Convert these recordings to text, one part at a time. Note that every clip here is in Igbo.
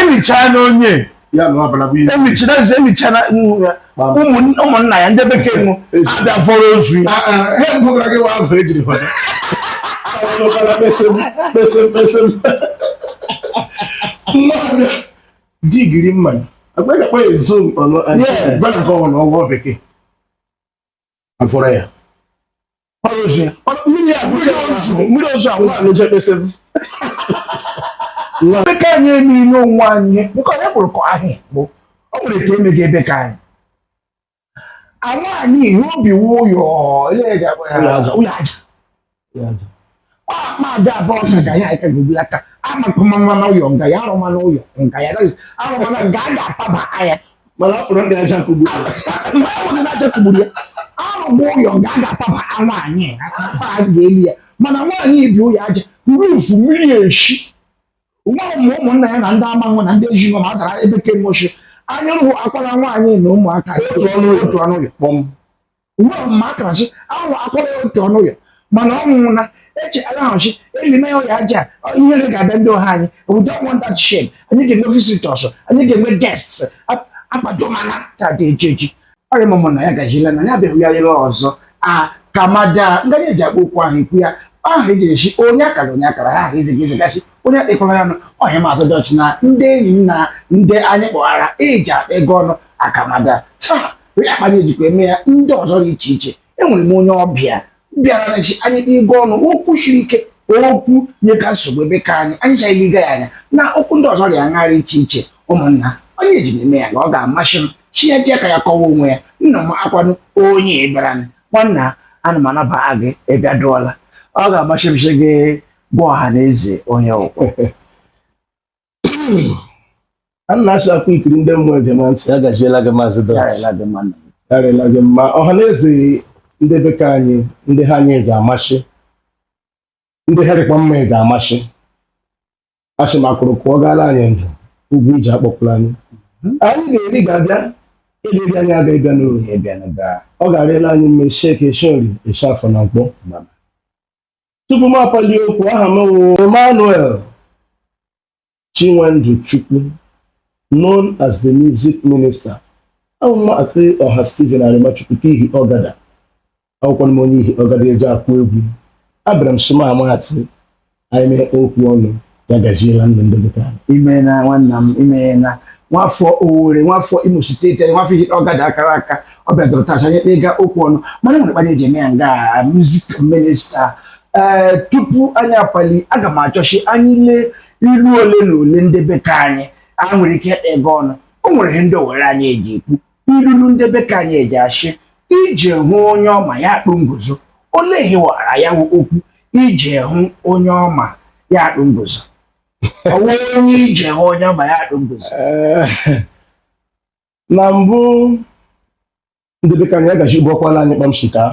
emichaa na onye emicha na ụmụnna ya ndị bekee nụ abịa vuru ozu ya digiri mma agbaghị akpa ego ọnụ ọgwụ bekee afọrọ ya mmiri ozu ahụ na-eje kpesịrị ndị ka anyị emiri n'onwe anyị nke onye kpụrụ ka ahị bụ ọ nwere ka emega ebe ka anyị anwaanyị ihe o bi wụ ụyọ ụlọ aja ọkpọkpọada abụọ ka ga ya aka gobi aka amakụmama na ụyọ nga ya arụma na ụyọ nga ya arụma na nga a ga-ataba anya mana ọ fụrụ ndị aja kugbu ya mgbe ọ bụrụ na aja kugburu ya arụgba ụyọ nga a ga-ataba nwaanyị afa a ga-eli ya mana nwaanyị ibi ụyọ aja rufu mmiri eshi nwa ụmụ ụmụnna ya na ndị amanwụ na ndị ezinụlọ ma a dara ebe kemoshi anya rụhụ akwara nwaanyị na ụmụaka otu ọnụ ụlọ kpọm uwe ọzọ ma akara shi ahụ akwara ya otu ọnụ ya mana ọ nwụrụ na eche alahụchi elime ya ụyọ aja ihere ga-abịa ndị ha anyị we don't want that shame anyị ga-enwe visitors anyị ga-enwe guests akpadomana ka dị eji eji ọrịa mụmụ na ya gajila na ya abịaghị ya lere ọzọ a kamada ngaji eji akpa okwu ahụ ikwu ya ahụ ejiri shi onye akara onye akara ha ahụ iziga izigachi onye akpịkwara ya nụ ọhịa maazị dọch na ndị enyi m na ndị anyị kpọghara eji akpa ego ọnụ akamada taa onye akpanye ejikwa eme ya ndị ọzọ dị iche iche enwere m onye ọbịa bịara shi anyị kpaa ego ọnụ okwu siri ike okwu nyeka nsogbu ebe ka anyị anyị chaghị ịga ya anya na okwu ndị ọzọ dị aṅara iche iche ụmụnna onye eji eme ya na ọ ga-amasị m shi ya ji aka ya kọwaa onwe ya nna m akwanụ onye bịara nwanna ana m anaba gị ị bịaduola ọ ga-amasị m shi gị gwa ọha na eze onye ị wụ a na-achọ akwa ikiri ndị mmụọ egema ntị agajiela gị maazị dọch ya rịla gị mma ọha na eze ndị be ka anyị ndị ha anyị eji amasị ndị ha dịkwa mma eji amasị ashị m akụrụ kụọ gaala anyị ndụ ugwu iji akpọpụrụ anyị mhm. anyị ga-eri ga-abịa eliri anyị aga ịbịa n'ohi ọ ga-arịla anyị mma eshi eke eshi orie eshi afọ na nkwọ tupu m apalie okwu aha m wụ Emmanuel Chinwendu Chukwu known as the music minister awụ m akịrị ọha Stephen Arimachukwu ke Ihi Ọgada awụkwanụ m onye Ihi Ọgada eji akụ egwu abịara m soma maazị anyị mee okwu ọnụ ya gaziela ndụ ndị dịka imeela nwanna m imeela nwafọ Owerri nwafọ Imo steeti anyị nwafọ Ihitta Ọgada akara aka ọ bịadoro taa anyị kpaga okwu ọnụ mana e nwere kpa anyị eji eme ya nga music minister ee tupu anyị apali aga m achọ shị anyị lee ilu ole na ole ndị be ka anyị e nwere ike ịkpaga ọnụ o nwere ihe ndị Owerri anyị eji ekwu ilulu ndị be ka anyị eji ashị ije hụ onye ọ ma ya akpụ nguzo olee ihe wara ya wụ okwu ije hụ onye ọ ma ya akpụ nguzo ọ wụ onye ije hụ onye ọ ma ya akpụ nguzo Eh, na mbụ ndị be ka anyị agachi gbakwala anyị kpamsi ka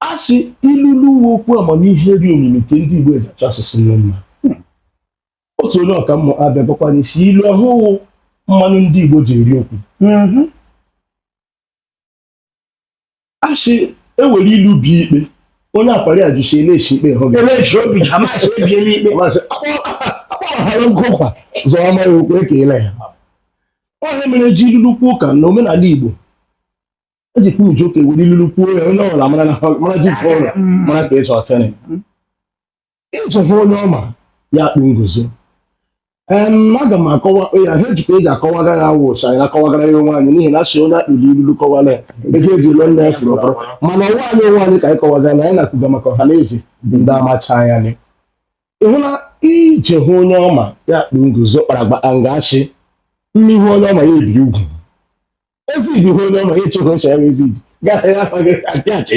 a sị ilulu wụ okwu amamihe dị omimi nke ndị Igbo eji achọ asụsụ mma otu onye ọkammụta bịa gwakwa anyị sị ilu ahụ wụ mmanụ ndị Igbo ji eri okwu mhm. a sị e were ilu bie ikpe onye akwari ajụ sị eleshi ikpe hụ akpọghara nkụkwa zọọ amaghị okwu ekele ya ọ ya mere e ji ilulu kwuo ụka na omenala Igbo ejikwa uju ka e were ilulu kwuo ya onye ọbụla mara ji mara ka ịchọ ọtịrị ije hụ onye ọ ma ya akpụ nguzo em aga m akọwa ya ha ejikwa eji akọwaga ya wụ sị anyị na-akọwagara ya onwe anyị n'ihi na a sị onye a kpụrụ ilulu kọwara ya ego e ji lụọ nne ya furu ọkpọrọ mana ọ wụ anyị onwe anyị ka anyị kọwaga na anyị na-akwuga maka ọha na eze ndị amacha anya anyị ịhụ na ije hụ onye ọ ma ya akpụ nguzo kparagba nga a shị mmai hụ onye ọ ma ya ebiri ugwu Ezid hụ onye ọ ma ịchụ ka o chọrọ Ezid gara ya afọ gị adị achị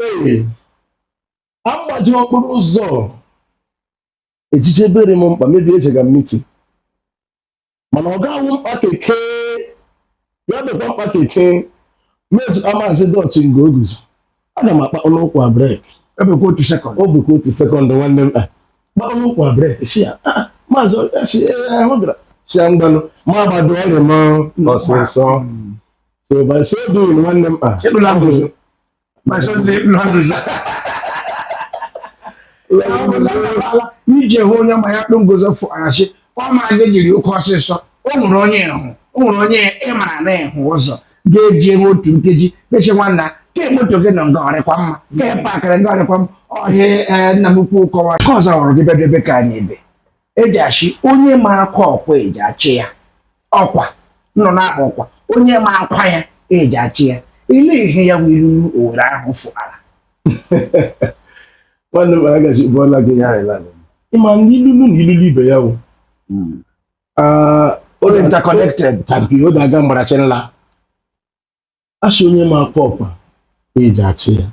ee agbaji okporo ụzọ eje ije bere m mkpa maybe ejega m meeting mana ọ ga-awụ mkpa keke ya dịkwa mkpa ka eke mezu amazi dọtụ nga o guzo aga m akpa ọnụ ụkwụ brek ebekwa otu sekọnd ọ bụkwa otu sekọnd nwanne m kpa ọnụ ụkwụ brek sị ya ah, maazị si ahụ gara sị ya ngwanụ m agbado ọ rị m ọsịsọ so by so doing nwanne m a ije hụ onye ọ ma ya akpụ nguzo fụara shị ọ ma gị jiri oke ọsịsọ o nwere onye ị hụ o nwere onye ị mara na ị hụ ụzọ ga-eji enwe otu nkeji mechi nwanna ka moto gị nọ nga ọ rịkwa mma ka ị pakịrị nga ọ rịkwa mma ọ ihe a nna m ukwu kọwara ka ọzọ hụrụ gị be ndị be ka anyị ebe eji ashị onye ma akwa ọkwa eji achị ya ọkwa nọ na-akpa ọkwa onye ma akwa ya eji achị ya i lee ihe ya wụ ilulu Owerri ahụ fụara nwanne m agazi ụbọla gị ya ịla ị ma na ilulu na ilulu ibe ya wụ hmm. ah, interconnected tabi o daga mgbarachi nla asị onye ma akwa ọkwa eji achị ya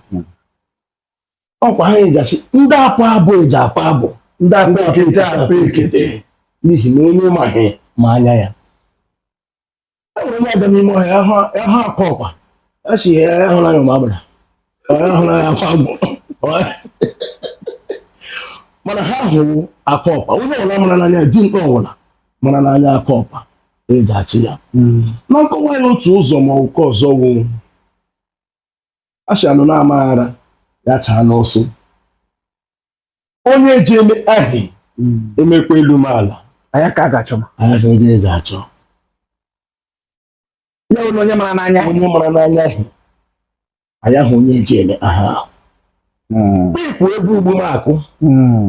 ọkwa ha eji achị ndị akpa abọ eji akpa abọ ndị akpa ekete akpa ekete n'ihi na onye maghị ma anya ya e nwere onye aga n'ime ọhịa ahụ ahụ akwa ọkwa a sị ya ya hụrụ anya ma agbara ọ ya hụrụ anya akwa agbụ mana ha hụrụ akwa ọkwa onye ọbụla mara n'anya dimkpa ọbụla mara n'anya akwa ọkwa eji achị ya na nkọwa ya otu ụzọ ma ụkọ ọzọ wụ asị anụ na-amaghara ya chaa n'ọsọ onye ji eme ahị emekwa elu ma ala anya ka a ga-achọ m anya ka ndị eji achọ ya onye mara n'anya onye mara n'anya ahị anyị ahụ onye eji eme aha ahụ hmm. ịkụ egwu ugbu m akụ hmm.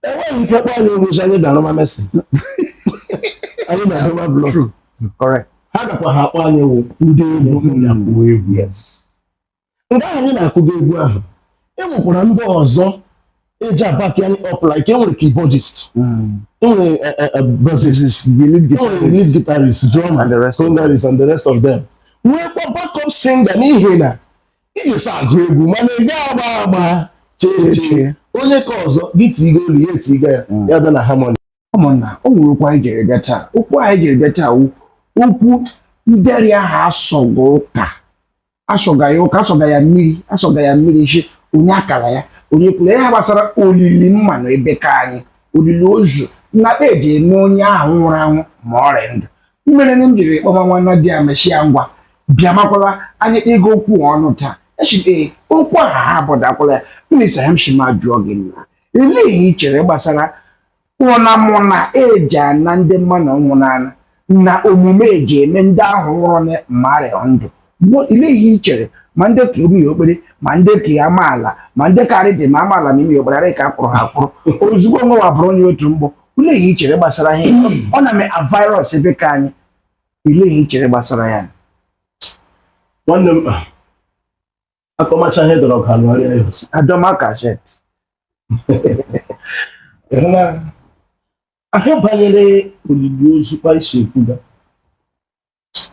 enweghị ike kpọ anyị egwu sị anyị bịa rụma mason anyị na-arụma blọk ha gakwa ha akpọ anyị wụ ndị egwu na-akụ egwu ya mgbe ahụ anyị na-akụgo egwu ahụ e nwekwara ndị ọzọ eji aback anyị up like enwere keyboardist hmm. enwere eh, eh, eh, bassist enwere lead guitarist drummer congarist and the rest of them nwekwa backup singer n'ihi na iji sa agụ egwu mana ị gaghị agba agba iche iche onye ka ọzọ gị tigo olu ya etiga ya hmm. ya bịa na harmony ụmụnna o nwere okwu anyị jiri bịa taa okwu anyị jiri bịa taa wụ okwu nderi ahụ asọga ụka asọga ya ụka asọga ya mmiri asọga ya mmiri shi onye akara ya onye kwuru ya gbasara olili mmanụ ebe ka anyị olili ozu na eji eme onye ahụ nwụrụ anwụ ma ọ rị ndụ mere na m jiri kpọma nwanna di ya m shi ya ngwa bịa makwala anyị ịga okwu ọnụ taa echi ee okwu ahụ ha abụdakwala ya mmiri sa ya m shima jụọ gị nna olee ihe ị chere gbasara ụna mụ na eji ana ndị mmanụ ọnwụ n'ala na omume eji eme ndị ahụ nwụrụ ma ha rị ndụ bụ ile ihe i chere ma ndị ka ime okpere ma ndị ka ya amaala ma ndị karị dị ma amaala na ime okpere arị ka akpụrụ ha akpụrụ ozugbo nwa bụrụ onye otu mgbọ ile ihe i chere gbasara ihe ọ na-eme a virus ebe ka anyị ile ihe i chere gbasara ya nwanne m akọmacha ihe dọrọ ọgụ alụgharịa ya ọzọ adọma kashet na ahịa banyere olili ozu kpa e si ekwuga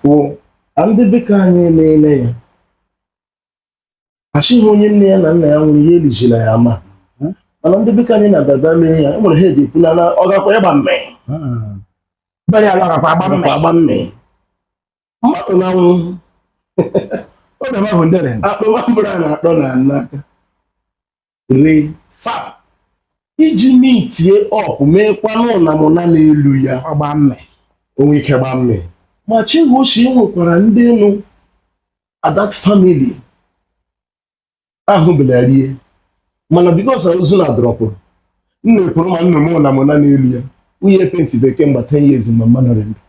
wụ na ndị be ka anyị emeela ya a shị onye nne ya na nna ya nwụrụ ya elijila ya ama mana ndị be ka anyị na-abịaba mee ya e nwere ha eji ekwu na na ọ gakwa ịgba mmee bere ya lọgakwa agba mme agba mmee mmadụ na-anwụ oge ma bụ ndere akpọmambụrụ a na-akpọ na n'aka re fa iji mitie ọkụ meekwanụ na mụ na n'elu ya ọgba mme o nwe ike gba mme ma chihochi nwekwara ndị nọ na that family ahụ bịara rie mana because ozu na drọpụrụ nna ekwuru ma nna m na mụ na n'elu ya nwunye penti bekee mgbe 10 years mgbe mma nọrọ ndụ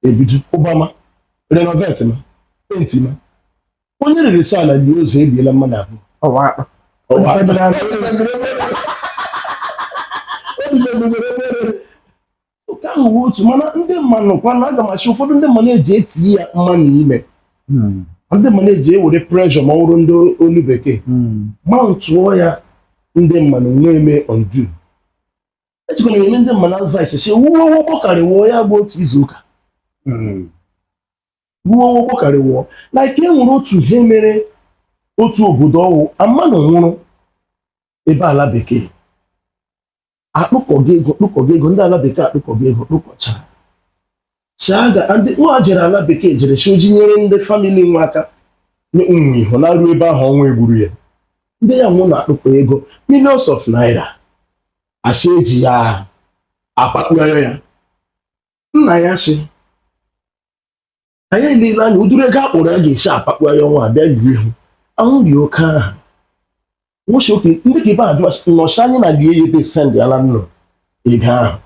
ebido ụbama renovate ma penti ma onye rere sa na ji ozu ebiela mmadụ abụọ nke ahụ bụ otu mana ndị mmanụ kwana aga m achị ụfọdụ ndị mmanụ eji etinye mmanụ ime hmm. ndị mmanụ eji ewere pressure ma ọ bụrụ n'olu bekee hmm. ma ntụọ ya ndị mmanụ nwee mee ondu ejikwana enye ndị mmanụ advice sị wuo ụgbọ karịwụọ ya bụ otu izu ụka hmm. wuo ụgbọ karịwụọ like e nwere otu ihe mere otu obodo ọ wụ mmanụ nwụrụ ebe ala bekee akpụkọga ego kpụkọga ego ndị ala bekee akpụkọga ego kpụkọchara chaga ndị nwa jere ala bekee jere sị o ji nyere ndị family nwa aka nye ụmụ ihu na ruo ebe ahụ ọ nwa egburu ya ndị ya wụ na-akpụkọ ego millions of naira a sị eji ya akpakpụgharị ya nna ya sị anyị elela anya ụdịrị ego akpọrọ ya ga-esi akpakpọ ya ọ nwa abịa lie ihu ahụ dị oke aha nwoke oke ndị ka ibe ajụ nọchi anyị na lie ya ebe send ala nnụ ego ahụ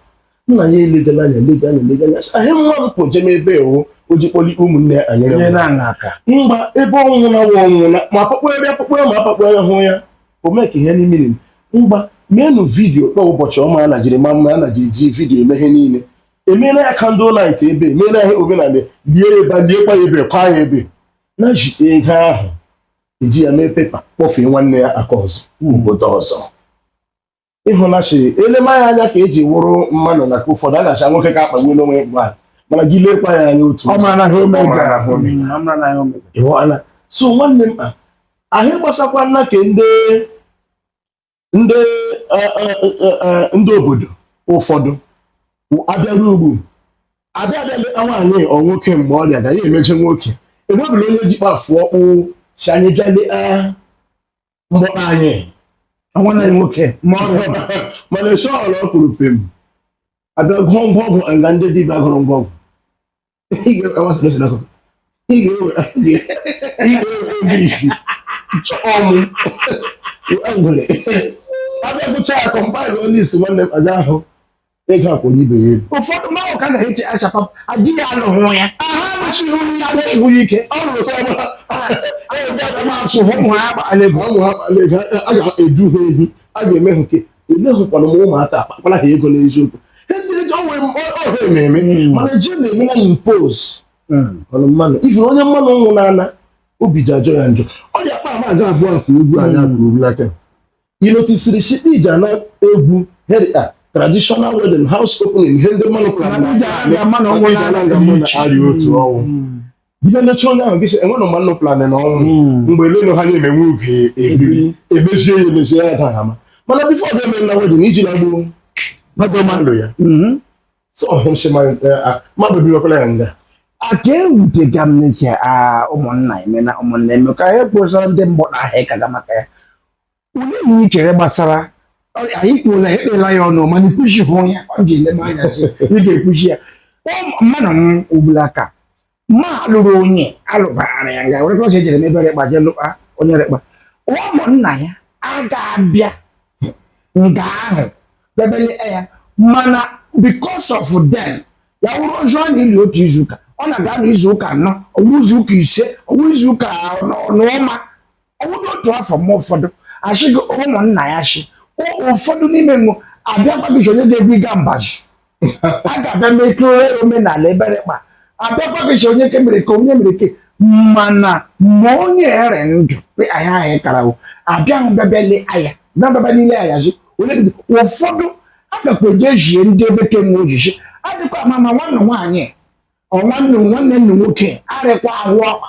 nna ya elegala anya elega anya elega anya ahị nwa m pụ jem ebe ewu o ji kpọli ụmụnne ya anyere Nye m na aṅa aka. mgba ebe ọnwụ na wa ọnwụ na ma akpakpọgharị akpakpọgharị ma akpakpọgharị hụ ya o mee ka ihe niile mgba meenụ video kpọọ ụbọchị ọma a najiri ma mma a najiri ji video eme ihe niile emeela ya candle night ebe emeela ya omenala lie ya ebe liekwa ya ebe kwa ya ebe na ji ego ahụ eji ya mee pepa kpọfee nwanne ya aka ọzọ hmm. obodo ọzọ ị hụna sị elema ya anya ka eji wụrụ mmanụ na ka ụfọdụ a na-acha nwoke ka akpagbu n'onwe mgbe a mana gị lekwa ya anya otu so nwanne m ahụ gbasakwa nna ka ndị ndị eh, eh, eh, ndị obodo ụfọdụ abịara ugwu abịa abịa leta nwaanyị ọ nwoke mgbe ọrịa ga ya emeje nwoke enwebụla onye ji kpafu okpu sị anyị bịa leta mgbọtọ anyị nwanne anyị nwoke ma ọ bịa mana esi ọrụ ọ kwuru pem abịa gụọ ngwa ọgwụ nga ndị dibịa gụrụ ngwa ọgwụ ị ga-ewe ogirisi chọọ mụ ngwere abịa gụcha ya compile onye isi nwanne m aga ahụ ego akwụrụ ibe ya elu ụfọdụ mmadụ ka na-eche achapa adịghị anụhụ ya aha anụchighị ya anụchighị ike ọ nụrụ sọ ma a ga-edu ha ehi a ga-eme ha nke elehụkwana m ụmụaka akpakwara ha ego n'eziokwu ọha ememe hmm. mana ji na-eme na impose hmm. ọnụ mmanụ ife onye mmadụ nwụnana obi ji ajọ ya njọ ọ dị akpa ama aga abụọ akụ egwu anyị akụ hmm. egwu aka ị notisiri shikpa iji ana egwu herita traditional wedding house opening ihe ndị mmadụ kpara na ndị mmadụ nwere na-arị otu ọnwụ ihe nlecha onye ahụ gịsị e nwere mgbe nnụ plan na ọnwụ hmm. mgbe elenu ha na-eme nwe oge ebiri hmm. emezie ya emezie ya taa ama mana before ga-eme na wedding iji na gboo mmadụ ma ndụ ya hmm. so ọ hụrụ sị mmadụ biwekwala ya nga aka ewutega m n'ike ụmụnna eme na ụmụnna eme ka ha kposara ndị mgbọ na ahịa ịkaga maka ya Olee ihe i chere gbasara anyị kwuola ekpela ya ọnụ mana i kwuchihụ ya ọ ji ele m anya sị ị ga-ekwuchi ya Ọ- mmadụ m ugbula aka ma lụrụ onye alụbara ya nga were kọsị ejere m ebere kpa je lụkpa onye rekpa ụmụnna ya a ga-abịa nga ahụ bebele ya mana because of them ya wụrụ ozu a na-eli otu izu ụka ọ na-aga n'izu ụka anọ ọ wụ izu ụka ise ọ wụ izu ụka n'ọnwa ọ wụdị otu afọ mgbe ụfọdụ achịgo ụmụnna ya chi ụfọdụ n'ime mụ abịakwaghị onye ga-egwuga mbazụ a ga-abịa metụrụ omenala ebere kpa abịakwaghị onye ke mere ka onye mere ke mana ma onye rị ndụ ahịa ahịa karawo abịahụ bịabịale aya bịabịaba n'ile aya ji onye dị ụfọdụ agakwa eje ejie ndị ebe ke nwe ojiji adịkwa ama ma nwanne nwaanyị ọ nwanne nwanne nne nwoke arịkwa ahụ ọkpa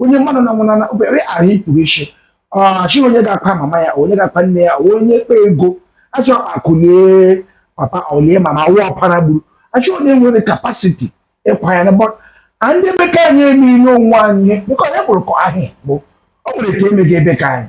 onye mmadụ na nwụnana obere ahụ ikpuru isi chi onye ga-akwa mama ya onye ga-akwa nne ya onye kpa ego achọ akụlie papa olie mama wụ ọpara gburu achọ onye nwere capacity ịkwa ya na bọ a ndị ebe ka anyị eme n'onwe anyị bụkọ ya kpụrụ kọ ahịa bụ o nwere ka emega ebe ka anyị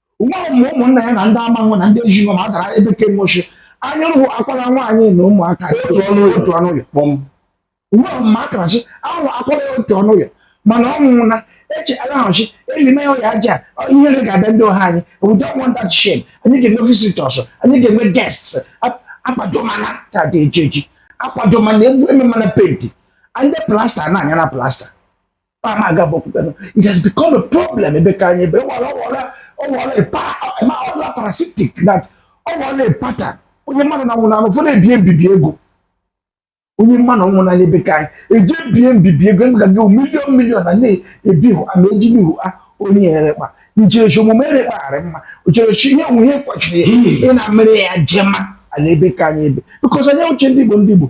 nwa ọmụmụ ụmụnna ya na ndị amanwụ na ndị ejinọ ma dara ebe ke moshi anya rụhụ akwara nwaanyị na ụmụaka otu ọnụ ụyọ otu ọnụ ụyọ kpọm nwa ọmụmụ akara shi ahụ akwara ya otu ọnụ ụyọ mana ọ nwụrụ na-eche agahụchi elime ya aja ihere ga-abịa ndị ọha anyị we don't want that shame anyị ga-enwe visitors anyị ga-enwe guests akwadomana card eji eji akwadomana egwu ememana paint ndị plaster na-anya na plaster ama aga bọpụta no it has become a problem ebe ka anyị ebe ọwara ọwara ọwara epa ma ọwara parasitic that ọ wụla pattern onye mmadụ na nwụrụ anụ ụfọdụ ebie mbibi ego onye mmanụ ọnwụ n'anya ebe ka anyị eje bie mbibi ego ebe ka gị million million na na-ebi hụ ama eji bi hụ a onye erekpa ncherechi omume erekpagharị mma ocherechi ihe onwe ihe kwachiri ị na mere ya jema ala ebe ka anyị ebe because anyị wụcha ndị Igbo ndị Igbo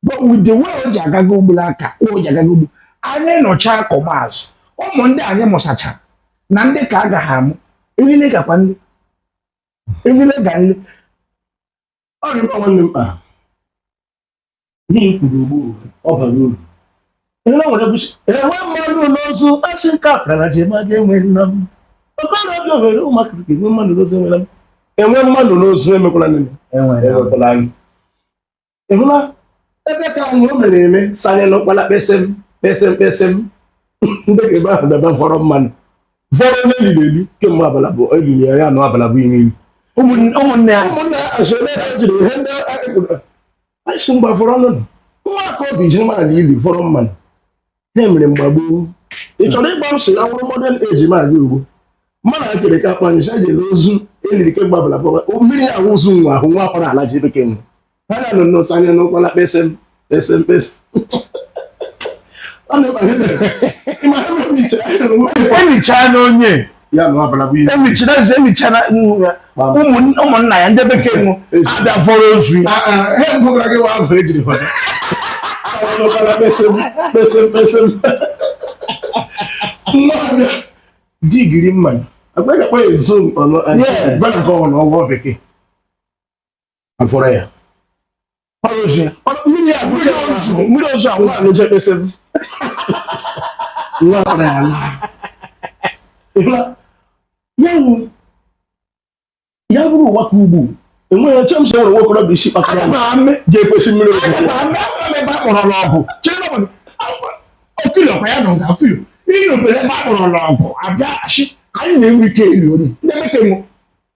but with the way o ji agaga ugbula aka o ji agaga ugbu anyị nọcha akọma azụ ụmụ ndị anyị mụsachara na ndị ka a gaghị amụ erile gakwa nle erile ga nle ọ dị mkpa nwanne mkpa n'ihe i kwuru ugbu ọ bara uru enwe nwere bụsi enwe mmadụ n'ozu asị nke akara ji ma ga enwe nna m ọkara obi ohere ụmụaka ka enwe mmadụ n'ozu enwela m enwe mmadụ n'ozu emekwala nne m enwere emekwala anyị ị hụla ebe ka anyị o mere eme sanye n'ụkpala kpesịm kpesịm kpesịm ndị ebe ahụ daba vọrọ mmanụ vọrọ onye e liri eli kemgbe abala abụọ eliri ya ya nọ abala abụọ ime ime Ụmụnne ụmụnne ya ụmụnne ya asịrị ha jiri ihe ndị anyị kwuru anyị si mgba vọrọ ọnụ nwa aka obi ji nwaanyị ili vọrọ mmanụ ha mere mgbagbu ị chọrọ ịgwa m sị na ọ wụrụ modern age ma aga ugbu mmadụ a kere ka akpanyụ si eji ozu eliri kemgbe abala gbaba mmiri ahụ ozu nwa ahụ nwa akwara ala ji bekee nwa ha ga nọ n'ụsọ anya n'ụkwala kpesem kpesem kpesem ọ na-ekpaghe ịma ha mechaa n'onye emichara nze emichara ụmụnna ya ndị bekee nwụ abịa vọrọ ozu ya digiri mma agbaghị akpa ezo ọnụ anyị bana ka ọ na ọgwụ bekee afọrọ ya mmiri ozu ahụ nwaanyị je kpesịm nwa akpara ya laa ya bụrụ ụwa ka ugbu enweghị eche m so nwere nwokorobịa isi kpakọrọ ga-ekwesị mmiri ozu kpọrọ n'ọgụ okiri ọkwa ya na ọga okiri ihe ofere ebe a kpọrọ n'ọgụ abịaghachi anyị na-enwe ike ili onye ndị bekee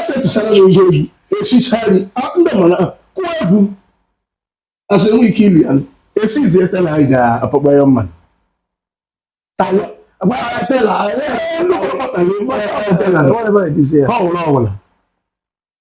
esetụchara m ihe egwu echicha gị ndị mana kụọ egwu asị enwe ike ili ya esizi etela anyị ga-akpọkpọ ya mma ọwụla ọwụla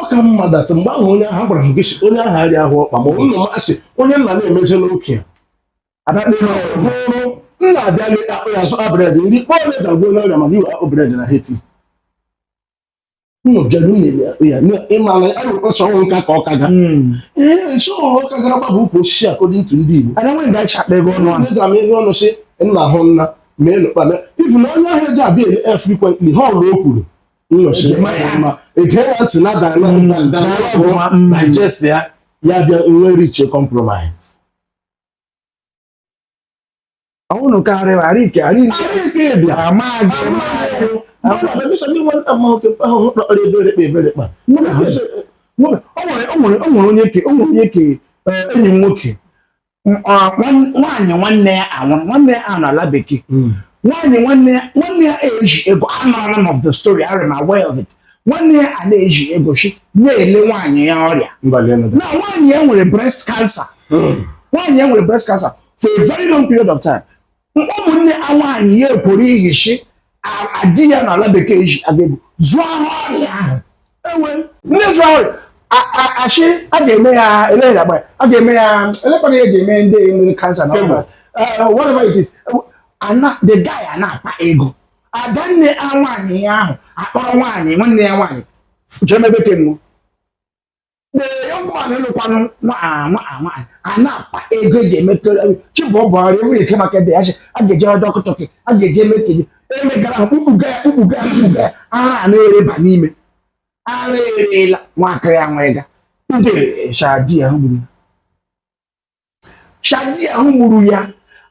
ọ ka mma dat mgbe ahụ onye ahụ gwara m gị si onye ahụ arịa ahụ ọkpa ma ọ nna masị onye nna na-emezela okenye hụrụ nna abịaghị akpụ ya zụta bred nri kpọọ ole dagbuo n'ọrịa maka iwe akpụ bred na heti nnọbịara unu ya ya na ịmala ya nwere ọsọ ọnwụ nka ka ọ kaga ee nso ọrụ ọ kagara gbaba ukwu osisi according to ndị Igbo ada nwere gacha akpa ego ọnụ ahụ ndị ga-ama ego ọnụ sị nna hụ nna mee nụkpa mee ifu na onye ahụ eji abịa ele ya frequently ha ọrụ o kwuru ege ya ntị na digest ya ya bịa nwee reach compromise ọwụnụ karịrị arike arike bịa amaghị o nwere onye ke enyi m nwoke nwaanyị nwanne ya a nwụrụ nwanne ya a nọ ala bekee hmm. nwaanyị nwanne ya nwanne ya eji ego amara m of the story I am aware of it nwanne ya a na-eji ego shi na-ele nwaanyị ya ọrịa na nwaanyị ya nwere breast cancer hmm. nwaanyị ya nwere breast cancer for a very long period of time ụmụnne a nwaanyị ya ekworo ihi shi a di ya nọ ala bekee ji agegbu zụọ ahụ ọrịa ahụ ewe ndị zụọ ọrịa achị a ga-eme ya ele ya agba a ga-eme ya elekwana ya ji eme ndị nwere cancer na ọrịa whatever it is ana the guy a na-akpa ego adanne a nwaanyị ya ahụ akpọrọ nwaanyị nwanne ya nwaanyị jemebe kemgbe the young man lụkwanụ nwaanyị a na-akpa ego eji emetụrụ chibụ ọ bụrụ ewu eke maka ebe ya shi a ga-eje dọkịta a ga-eji emete gị emegara ha kpukpuga ya kpukpuga ya kpukpuga ya ara a na-ereba n'ime ara erela nwaakịrị ya nwa ịga ndị shi a di ya gburu shi a di ahụ gburu ya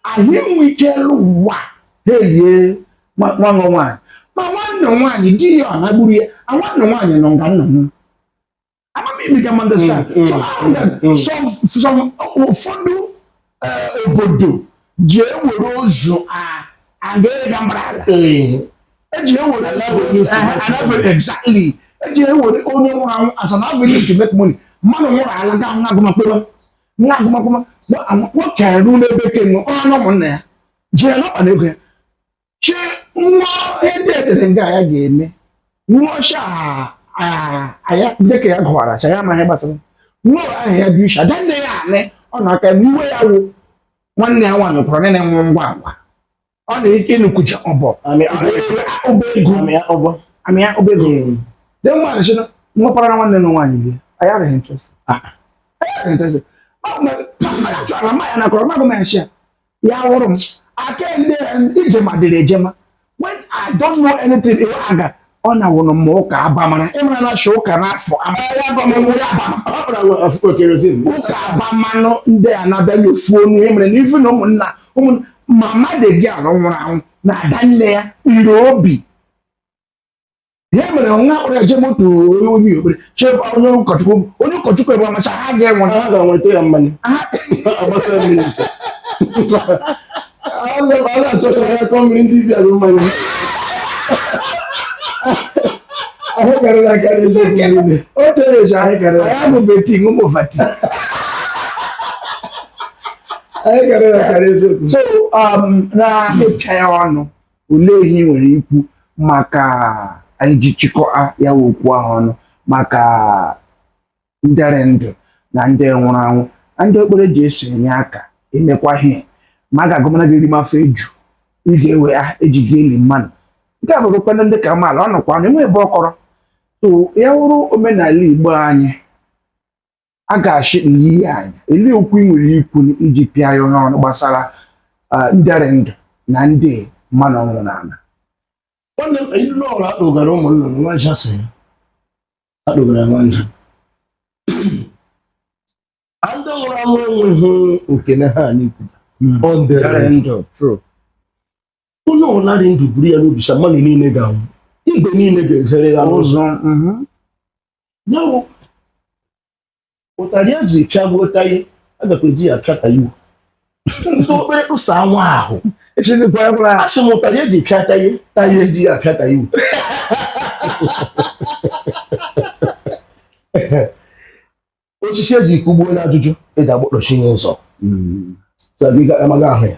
ahụ enwe ike elu ụwa na-elie nwanne nwaanyị ma nwanne nwaanyị di ya ọ na-agburu ya a nwanne nwaanyị nọ nga nna m I mean you can understand mm, mm, so ahụ na mm, some some ụfọdụ eh, obodo ji ewere ozu a aga ịga mara ala eji ewere anafere exactly eji ewere onye nwụrụ anwụ as an avenue to make money mmadụ nwụrụ ala gaa nwa agụmakwụkwọ nwa agụmakwụkwọ nwoke arụ n'ebe ke nọ ọrụ na ụmụnna ya jee n'ọkpa na ego ya che nwa ndị edere nga ya ga-eme nwa ọcha aya dịka ya gụwara cha ya amaghị gbasara nwa ahụ ya dị uche adanne ya anị ọ na-aka iwe ya wụ nwanne ya nwaanyị pụrụ nne na-enwe ngwa ngwa ọ na ike nukucha ọbọ amịa ọbọ ego amịa ọbọ amịa ọbọ ego de nwa na shino nwa para nwanne nwa nwaanyị bi aya re interest ah aya re interest ma ma ma ya chọrọ ma ya na kọrọ ma gụ ma ya shi a ya wụrụ m aka ndị ije ma dịrị ejema when I don't know anything iwe aga ọ na-awụrụ m ụka abamara ịmara na achọ ụka n'afọ ụka abamanụ ndị a na-abịaghị ofu onu ihe mere na ife na ụmụnna ma mmadụ gị alụ nwụrụ anwụ na ada nne ya ire obi ihe mere nwa akpọrọ eje moto onye obi okpere chebe onye ụkọchukwu onye ụkọchukwu ebe amacha ha ga-enwe ha ga-enweta ya mmanya agbasa ya mmiri nsọ ọ na-achọcha ya kọ mmiri ndị bịara mmanya ahụ karịrị akarị eziokwu niile o chere eche anyị karịrị anyị bụ beti ṅụmụ fati anyị karịrị akarị eziokwu so um, na-apịcha ya ọnụ olee ihe ị nwere ikwu maka anyị ji chịkọa ya wụ okwu ahụ ọnụ maka nde rị ndụ na ndị nwụrụ anwụ na ndị okpere ji eso enye aka emekwa ihe ma a ga-agụmana ga-erime afọ eju ị ga-ewe ya eji ga-eli mmadụ nke a bụrụkwana ndị ka amaala ọ nọkwa na enweghị ebe ọ kọrọ so ya wụrụ omenala igbo anyị a ga-achị n'iyi anya elee okwu ị nwere ikwu iji pịa ya ọnụ gbasara ah, nde rị ndụ na ndị mmadụ ọnwụ na ala nwanne m ilu ọrụ akpụgara ụmụ nnụnụ nwa ncha so ya akpụgara nwa ncha a ndị nwụrụ anwụ enweghị oke na ha anyị kwuru Ọ nde rị nde rị ndụ. ndụ true onye ọbụla dị ndụ buru ya n'obi sa mmadụ niile ga-anwụ igwe niile ga-ezere ya n'ụzụ mhm. ya wụ ụtarị a ji pịagbuo Taye a gakwa eji ya pịa Taiwo ndị okpere kpụsa anwa ahụ asị m ụtarị eji pịa Taye Taye eji ya pịa Taiwo osisi eji kugbuo na ajụjụ eji agbakpọchi n'ụzọ amaghị ahụ ya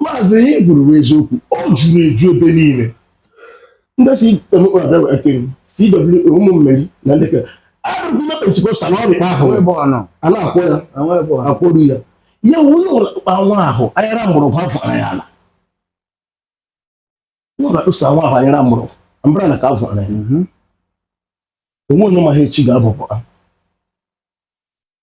maazị ihe i kwuru bụ eziokwu ọ juru eju ebe niile ndị si ụmụ Meri na ndị arụgụme pentikọstal ọ dịkpa ahụ a na-akwọ ya akwọru ya ya onye ọkpa nwa ahụ anyara mgbọrọgwụ afọ ara ya ala nwa na-akpụsa nwa ahụ anyara mgbọrọgwụ mbara na ka afọ ara ya mhm. o nwe onye ma ha echi ga-abụpụ ha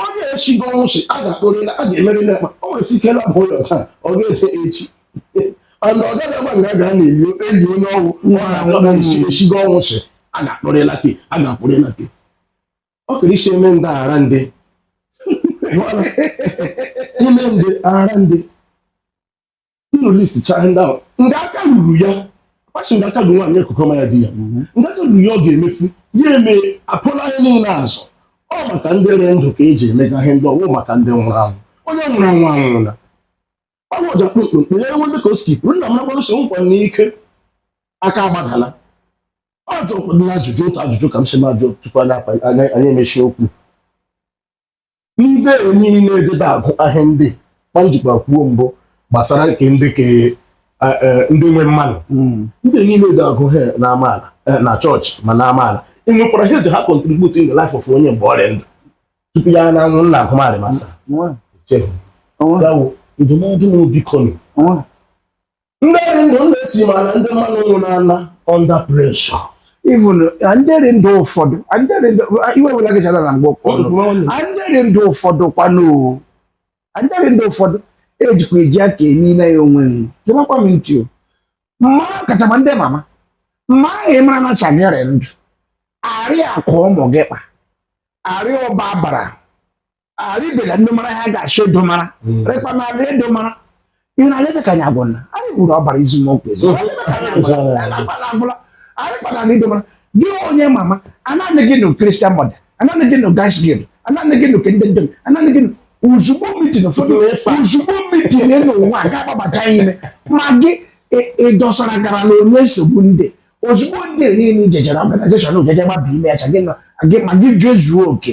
onye echigo ọnwụ sị a ga-akpọrịla a ga-emerịla akpa o nwere ike na bụ ụlọ taa ọ ga-eje echi and ọ gaghị agba nga a ga na-eli onye ọnwụ ọ na-akpọ na echi echigo ọnwụ sị a ga-akpọrịla gị a ga-akpọrịla gị ọ kere isi eme ndị ara ndị ime ndị ara ndị unu listicha ndị ahụ ndị aka ruru ya kpasi ndị aka ruru nwaanyị ekukọma ya di ya mhm. ndị aka ruru ya ọ ga-emefu ya eme apụla ihe niile azụ ọ maka ndị rị ndụ ka e ji emega ihe ndị ọ wụ maka ndị nwụrụ anwụ onye nwụrụ anwụ anwụla ọ bụ ọja kpụmkpụmkpụ ya enwe ndị ka o si pụrụ nna m nakwa nsogbu nkwa n'ike aka agbadala ọ jụrụ ajụjụ otu ajụjụ ka m si na-ajụ tupu anyị emechie okwu ndị enyi na-edebe agụ ahịa ndị kpa m jikwa kwuo mbụ gbasara nke ndị ke eh, eh, ndị nwe mmanụ hmm. ndị enyi na-eje agụ ha na amaala eh, na chọọchị ma na amaala e nwekwara ihe e ji ha contribute in the life of onye mgbe ọ rị ndụ tupu ya na-anwụ nna agụmarị masa ndụmọdụ na obi kọnụ ndị rị ndụ na-eti mana ndị mmanụ nwụ na-ana under pressure even ndị rị ndụ ụfọdụ ndị rị ndụ iwe wela gị chara na mgbe ụfọdụ ndị rị ndụ ụfọdụ kwanụ ndị rị ndụ ụfọdụ ejikwa eji aka emi na ya onwe nwe gemakwa m ntị o mma kachakwa ndị mama mma ahụ ị mara na cha gị rị ndụ arị akụ ụmụ gị kpa arị ọba bara arịbela ndị mara ha ga-achọ edomara hmm. rekpa na ala edomara ihe na alebe ka anyị agwọ na anyị buru ọbara izumokwu ezo arịkpana ala idomara gị onye mama anaghị gị nụ Christian Mother anaghị gị nụ Girls' Guild anaghị gị nụ ke nde ndom anaghị gị nụ ozugbo mitin ụfọdụ ozugbo mitin n'ụwa ga-agbabacha ime ma gị ịdọsara e, e gara na onye nsogbu ndị ozugbo ndị niile ijejere organization ojeje gbaba ime acha gị ma gị jezuo oke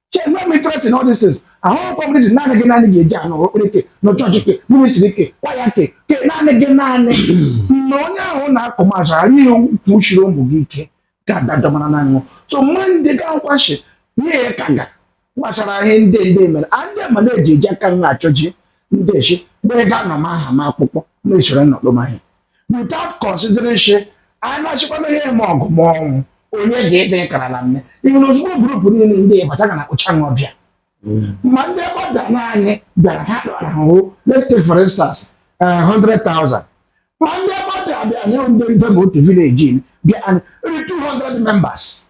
Check no interest in all these things. Ahụ kọmụniz naanị gị naanị ga-eji anọ ekpere ke na chọọchị ke ministry ke kwaya ke ke naanị gị naanị mgbe onye ahụ na-akụ m azụ ghara ihe kwuchiri ụmụ gị ike ga-adajọ mara na ṅụ so mma ndị ga nkwashi ihe ya ka nga gbasara ihe ndị ndị mere a ndị ma na-eji eji aka nha achọji ndị echi mgbe ga anọ m aha m akwụkwọ na-esoro nnọkpọ m ahịa without consideration anyị na-achịkwana ihe eme ọgụ ma ọnwụ onye ga-ede kara na mme ihe na ozugbo group niile ndị ị bataga na kpụcha ṅụ ọbịa ma ndị gbada na anyị bịara ha dọrọ ha hụ let's take for instance eh, 100,000 ma ndị gbada bịa nye ndị nde ma otu village bịa anyị only 200 members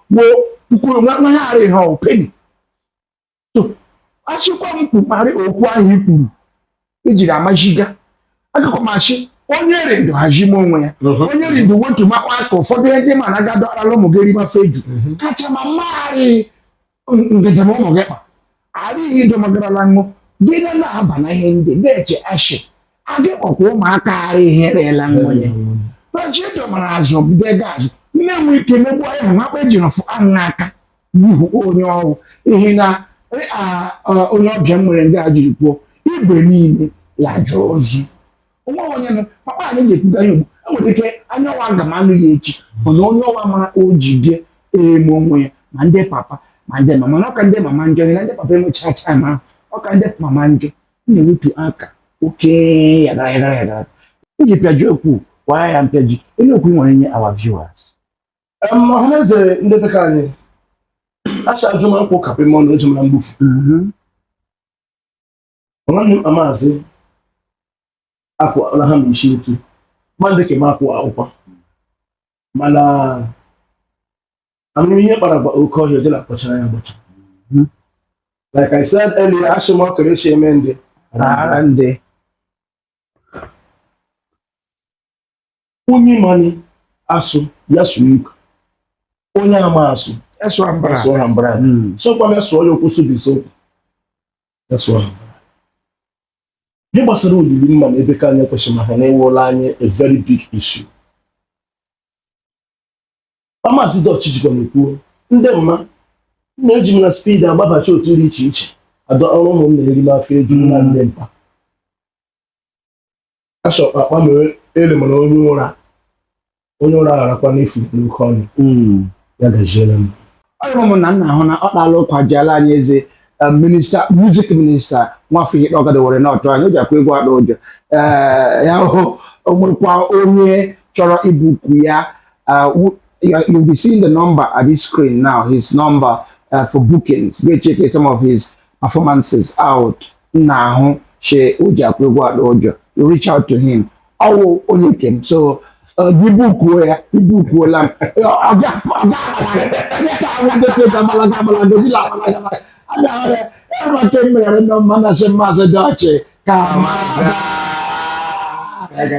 wo kwuru nwa nwa ya arịghị ha penny so achịkwa m kpụkparị okwu ahụ i kwuru ejiri amajiga akụkọ machi onye rị ndụ hajima onwe ya Mhm. onye rị ndụ wetumakwa aka ụfọdụ ihe ndị ma na gadọ arala ụmụ gị rimafe eju kachama mmagharị ngajem ụmụ gị kpa arịghị ido magarala ṅụ gị na na-aba na ihe ndị na-eche ashị agị kpọkwa ụmụaka arị ihe reela nwunye kpachi dọmara azụ bido ego azụ nne nwe ike megbu anyị hụ akpa ejiri fụ aṅụ aka n'ihu onye ọ wụ ihe na eh, ah, ah, onye ọbịa m nwere ndị a jiri kwuo igwe niile ya jụrụ ozu o nwe onye nọ papa anyị na-ekwuga ya ugbu enwere ike anya ọwa aga m anụ ya echi mana onye ọwa mara o ji bịa eme onwe ya ma ndị papa ma ndị mama na ọ ka ndị mama njọ na ndị papa enwecha taim ahụ ọ ka ndị mama njọ m na-ewetu aka oke yagara yagara yagara iji pịaji okwu kwara ya mpịaji onye okwu nwere nye our viewers ọhaneze ndị dịka anyị acha ajụ ma nkwụ kapị m ọnụ eji mara mgbufu nwanne m amaazị akwa na ha mbichi ntu mmadụ ka m akwụ akwụkwọ mana ama m ihe kpara gwa oke ọhịa jela kpọchara ya gbọcha like i said earlier asị m ọkara echi eme ndị Rara ndị. onye mani asụ ya sụọ igbo onye ama asụ ya sụọ Anambra hmm. sọkwa ya sụọ ya okwu sụbisi okwu ya sụọ Anambra ihe gbasara olili mma na ebe ka anyị kwesịrị maka na ọ wụọla anyị a very big issue Maazị Dọch jikwa na kwuo ndị mma na-eji m na spid agbabacha otu dị iche iche adọ ọrụ ụmụnna eri ma afọ eju na ndị mpa ashọkpa akpa mere ele mana onye ụra onye ụra gharakwa n'efu n'oke ọnụ Mm. ya gajiere m ọ wụ mụ na nna ahụ na ọ kpala ụkwa ji ala anyị eze eh, minista muzik minista nwafọ ihe ọgada were na ọtụ anyị o ji akwa egwu ada ụjọ Eh, ya hụ o nwekwa onye chọrọ ibuku ya eh, wu- you- you'll be seeing the number at this screen now his number eh, for bookings go check some of his performances out nna ahụ she o ji akwụ egwu ada ụjọ you reach out to him ọ wụ onye nke m so uh, gị bukuo ya gị bukuola m Ọ- ọ ga- ọ ga- onye ka agwa ndị ka gabalaga abalaga gị labalaga abalaga. A ga-ahụ ya, ya ma ka e meghere ndị mma na-asị Maazị Dọch ka ma gaa.